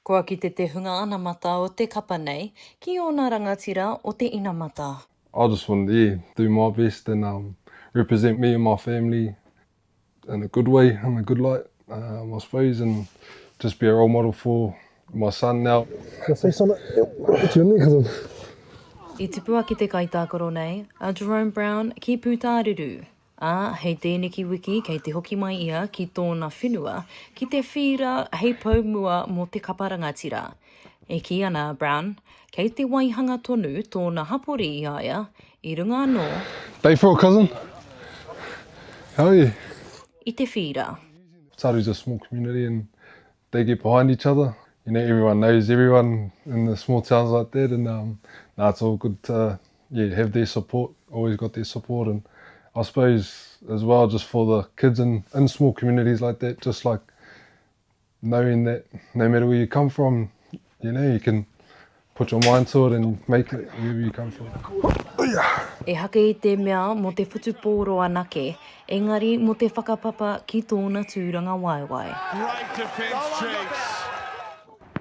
Kua kite te hunga anamata o te kapa nei ki ōna rangatira o te inamata. I just want to yeah do my best and um represent me and my family in a good way in a good light um I suppose and just be a role model for my son now. Can I say something to him because of. I tipua ki te kaitākaro nei a Jerome Brown ki Pūtāruru. ā, hei tēneki wiki kei te hoki mai ia ki tōna whenua, ki Te Whīra hei pou mua mō te kapa rangatira. E kī ana a Brown, kei te waihanga tonu tōna hapori i a ia, i runga anō, Bay for a cousin? Hell yeah. i Te Whīra. Tsar is a small community and they get behind each other, you know everyone knows everyone in the small towns like that and um, nah it's all good to yeah, have their support, always got their support. And I suppose as well, just for the kids in, in small communities like that, just like knowing that no matter where you come from, you know, you can put your mind to it and make it wherever you come from. E hake i te mea mo te whutupōro anake, engari mo te whakapapa ki tōna tūranga waewae. Great defence, Chiefs.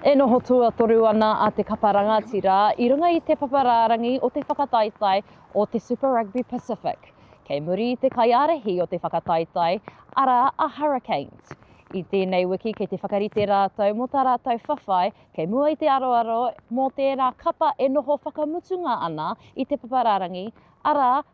E noho tuatoru ana a Te Kapa Rangatira i runga i te papa rārangi o te whakataetae o te Super Rugby Pacific, kei muri i te kaiārahi o te whakataetae, arā a Hurricanes. I tēnei wiki kei te whakarite rātou mō tā rātou whawhai kei mua i te aroaro mō tērā kapa e noho whakamutunga ana i te papa rārangi, arā,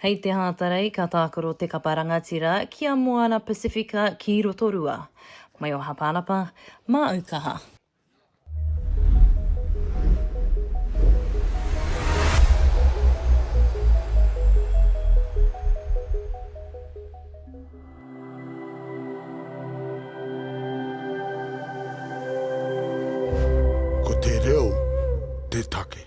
Hei te Hātarei ka tākaro te kapa rangatira ki a Moana Pasifika ki Rotorua. Mai o Hapanapa, māu kaha. Ko te reo te take.